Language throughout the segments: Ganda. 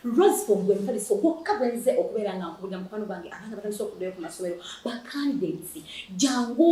Roseford gwe mufaliso gwokka gwe nze okubeera nga nkubulira mukwano gwange abaana batandise okuddayo ku masomero ba candidates jangu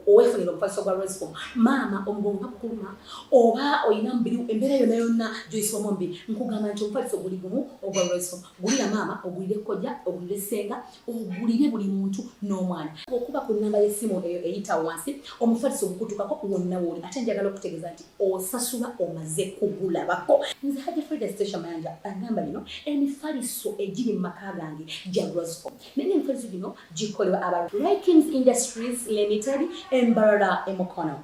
owefunira omufaliso gwa Roseford maama omugongo bakukuluma oba olina mubiri embeera yonna yonna gyoyisibwamu omubiri nkugamba nti omufaliso guli gumu ogwa Roseford gulira maama ogulire kojja ogulire ssenga ogulire buli muntu n'omwana okuba ku nnamba y'essimu eyo eyita wansi omufaliso ogukutukako wonna wooli ate njagala okutegeeza nti osasula omaze kugulabako nze haja frida station mayanja agamba bino emifaliso egiri mu maka gange gya rosco naye emifaliso gino gikolebwa aba rikings industries limited embarara emukono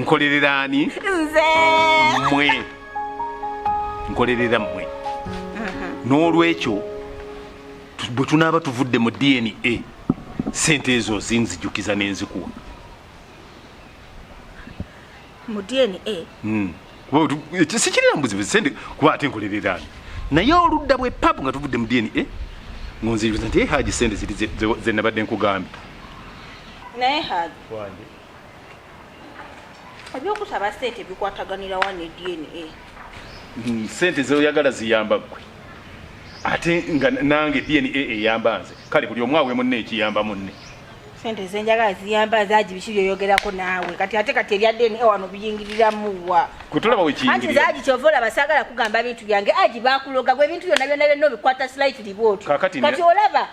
nkolerera ani nze mwe nkolerera mwe n'olwekyo bwe tunaaba tuvudde mu dna sente ezo zinzijukiza nenzikuwa mu dna hmm. sikirira mbuzibu sente kuba ate nkolereraani naye oludda bwe papu nga tuvudde mu dna eh? ngonziriza nti eh, haji sente ziri zenabadde nkugambye naye haji ebyokusaba sente bikwataganirawa ne dna hmm, sente zoyagala ziyamba gwe ate nga nange dna eyamba nze kale buli omu awemunne ekiyamba munne sente zenjagala ziyamba zagi biki byoyogerako naawe kati ate kati ebya dna wano biyingiriramuwa anti zagi kyova olaba saagala kugamba bintu byange agi bakuloga gwe ebintu byona byona byonna obikwata slightly bwotyo kati olaba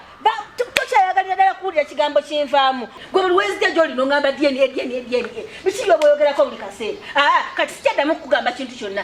tokyayagalira ddala kuwulira kigambo kinvaamu gwe buli wezija gyoli nongamba dna dna dna biki byoba oyogerako buli kaseera ah, kati sikyaddamu kukugamba kintu kyonna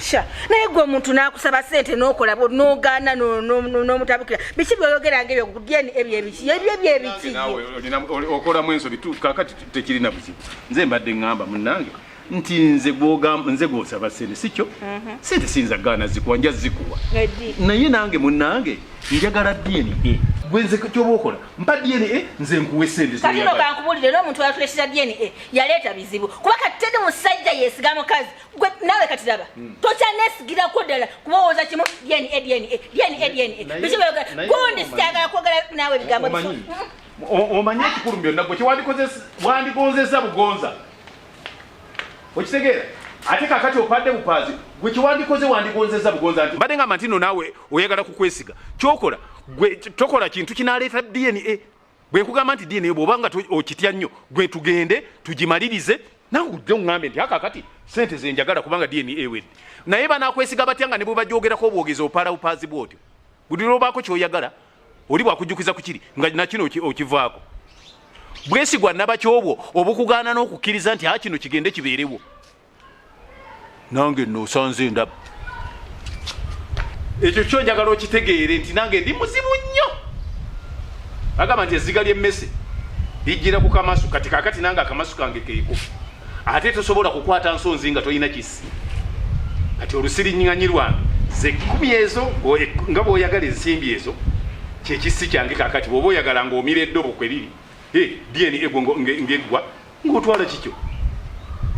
sha naye gwe omuntu nakusaba sente nokola nogana nomutabukira biki byoyogera nga ebyo dna ebyebiki ebyo ebyebiki okolamu ensobi kakati tekirina buzibu nze mbadde ngamba munange nti nze gwogamba nze gwosaba sente sikyo mhm. sente siyinza gaana zikuwa nja zikuwa naye nange munange njagala dna gwenze kyoba okola mpa DNA nze nkuwe sente zo. Kati noka nkubulire no muntu atulesha DNA yaleta bizibu. Kuba kati tende musajja yesiga mukazi. Gwe nawe kati daba. Hmm. Tocha nesigira ko dala kuba woza kimu DNA DNA DNA DNA. Bizibu yoga. Gundi sitagala kwogala nawe bigambo. Omanyi. Omanyi kikuru mbyo nabwo kiwandikoze wandikonzeza bugonza. okitegeera ate kakati opadde bupaazi gwe kyewandikoze wandigonzeza bugonza nti mbadde ngamba ntino naawe oyagala kukwesiga kyokola gwe tokola kintu kinaleeta dna bwe nkugamba nti dna bwoba nga okitya nnyo gwe tugende tugimalirize nawe ujja oŋambe nti akakati sente zenjagala kubanga dna ewedde naye banakwesiga batya nga ne bwe bajoogerako obwogezi opaala bupaazi bwotyo buli lwobaako kyoyagala oli bwakujukiza kukiri nga nakino okivaako bwesigwa nabaki obwo obukugaana n'okukkiriza nti a kino kigende kibeerewo nange nosanze ndaba ekyo kyo njagala okitegeere nti nange ndi muzibu nnyo agamba nti ezziga ly'emmese lijjira ku kamasu kati kakati nange akamasu kange keeko ate tosobola kukwata nsonzi nga tolina kisi kati olusiriŋŋanyi lwange ze kkumi ezo nga bw'oyagala ensimbi ezo kyekissi kyange kakati bwoba oyagala ngaomira eddobo kwe liri dna egwo ngeggwa ngaotwala kikyo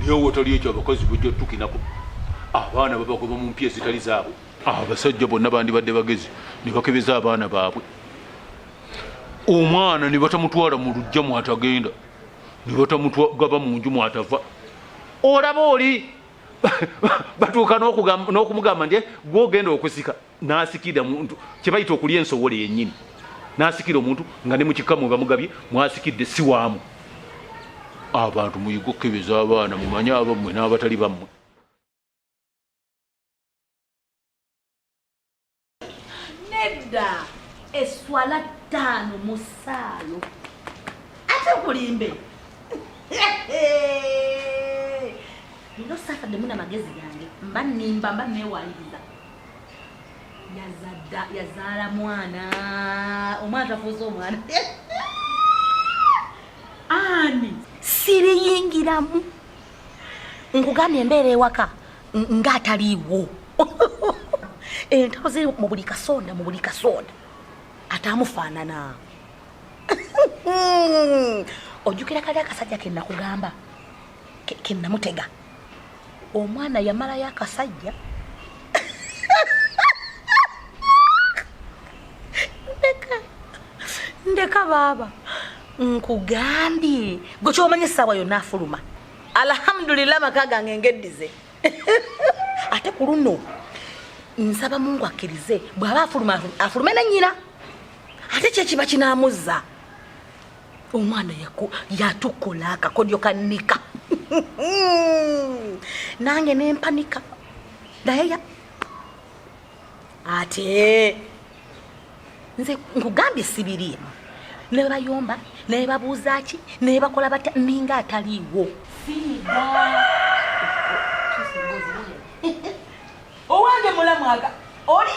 lyowotoliyokyo abakozi bujja otukinako abaana babagoba mu mpya ezitali zaabwe abasajja bonna bandibadde bagezi ne bakebeza abaana baabwe omwana ne batamutwala mu lujja mwatagenda nilota mutu gava munju mwatava olaba oli batuuka nokumugamba nti eh, gwe ogenda okusika nasikira muntu kyebayita okulya ensowole yenyini nasikira omuntu nga ne mukikamu bamugabye mwasikidde siwaamu abantu muyiga okukebeza abaana mumanye abammwe n'abatali bammwe nedda eswala ttaano mu ssaalo ate kulimbe nino saturday muna magezi gange mba nimba mba newayiriza yazadda yazaala mwana omwana tafuuza omwana ani siriyingiramu nkugambye embeera ewaka nga ataliiwo entalo ziri mu buli kasonda mu buli kasonda ate amufaanana ojjukira kali akasajja ke nakugamba ke namutega omwana yamalayo akasajja ndeka ndeka baaba nkugambye gwe kyomanyi essaawa yonna afuluma alhamdulillah maka gange ngeddize ate ku luno nsaba mungu akkirize bw'aba afuluma afulume ne nnyina ate kyekiba kinamuzza omwana yatukola akakodyo ka nika nange nempanika naye ate nze nkugambye sibiriimu nebayomba nebabuuza ki nebakola batya ninga ataliiwo owange mulamwaga oli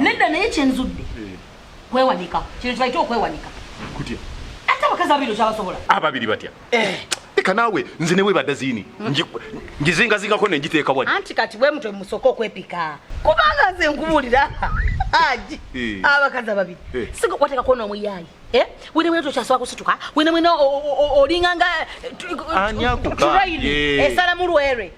nedda naye kyenzudde eh. kwewanika kino kibaite okwewanika kutya ate abakazi abiri okyabasobola ababiri batya eh. leka naawe nze ne webadda ziini ngizingazingako ne ngiteeka wani anti kati bwe mutwe musooka okwepika kubanga nze nkubuulira aji eh. abakazi ababiri eh. siga wateka kuona omuyaayi eh? wene mwene tokyasobola kusituka wene mwene olinga nga esala mulwere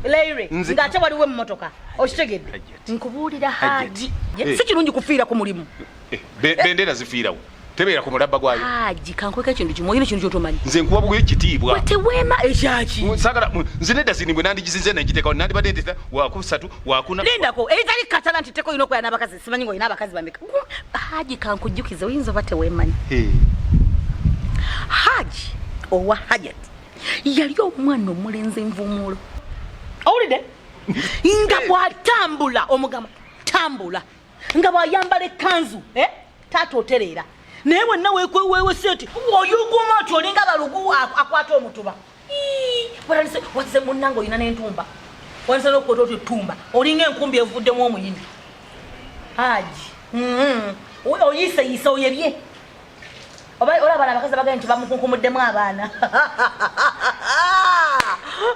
leire ng'ate waliwo emmotoka okitegedde nkubuulira haji eh. si kirungi kufiira ku mulimu eh, eh. bendera zifiirawo tebeera ku mulabba gwayo haji kankweka ekintu kimu olina ekintu kyotomanyi nze nkuwa buguyo ekitiibwa weteweema ekyaki sagala nze nedda zini bwe nandigizinze nengitekawo nandibadde ntita wakusatu wakuna lindako ebitali katala nti teka olina okwera n'abakazi simanyi nga olina abakazi bameka haji kankujjukize oyinza oba teweemanyi haji owa hajat yali omwana omulenzi envumuulo owulidde nga bw'atambula omugamba tambula nga bw'ayambala ekkanzu eh? taata otereera naye wenna wekwewewese eti oyuguma oti olinga balugu akwata omutuba watize munnanga olina n'entumba watize n'okukwata oti etumba olinga enkumbi evuddemu omuyini haji mm-hmm. oyiseyise oyebye oba olaba na bakazi abagenda nti bamukunkumuddemu abaana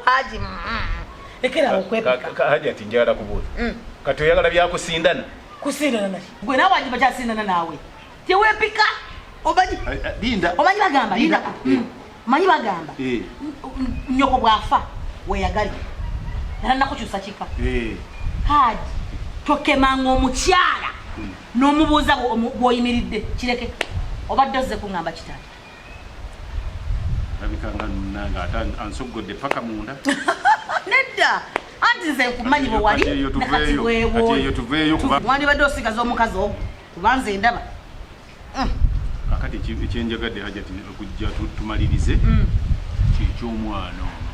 haji mm, mm. ekera okwepaka haji ati njagala kubuuza mm. kati oyagala byakusindana kusindana naki gwe nawe ajiba kyasindana naawe tewepika omanyi eh, eh, omanyi bagamba linda manyi bagamba eh. nyoko bwafa weyagali era nakukyusa kika eh. kaadi tokemanga omukyala hmm. n'omubuuza bwoyimiridde kireke obadde ozze kuŋamba kitala abikanga nunanga ate ansoggodde paka munda nedda anti nze nkumanyi bwewali nakati bwewoyo tuveeyo kuba mwandibadde osigaza omukazi ogwo kuba nze ndaba mm. akati ekyenjagadde hajati okujja tumalirize mm. kyekyomwana ono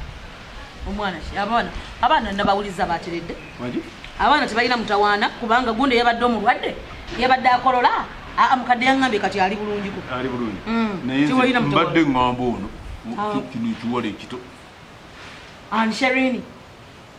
omwana ki abaana abaana nabawuliza bateredde abaana tebalina mutawaana kubanga gundi yabadde omulwadde yabadde akolola aa mukadde yangambye kati ali bulungiko ali bulungi mm. naye mbadde ngamba ono kino ekiwala ekito ansherini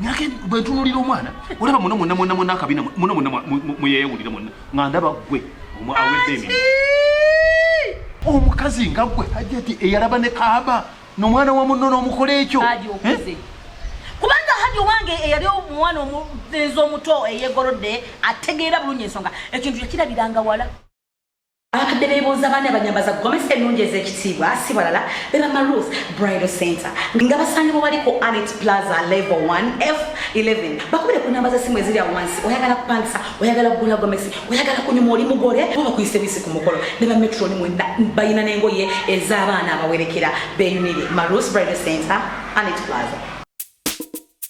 nage bwentunulira omwana olaba muna muna muna muna akabina muna muna muyeyawulira muna nga ndaba gwe awedde emi omukazi nga gwe hajati eyalaba ne kaaba nomwana wa munno nomukola ekyo eh? kubanga hadi owange eyali omwana omulenzi omuto eyegolodde ategeera bulungi ensonga ekintu yakirabiranga wala abakadde bebuuza baani abanyambaza gomesa ennungi ez'ekitiibwa si balala be bamaruth bridal center nga basangibwa bali ku anet plaza level 1 f 11 bakubire ku namba z'essimu eziri awo wansi oyagala kupangisa oyagala kugula gomesi oyagala kunyuma oli mugole bo bakuyise bisi ku mukolo ne ba metroni mwena balina n'engoye ez'abaana abawerekera beyunire maruth bridal center anet plaza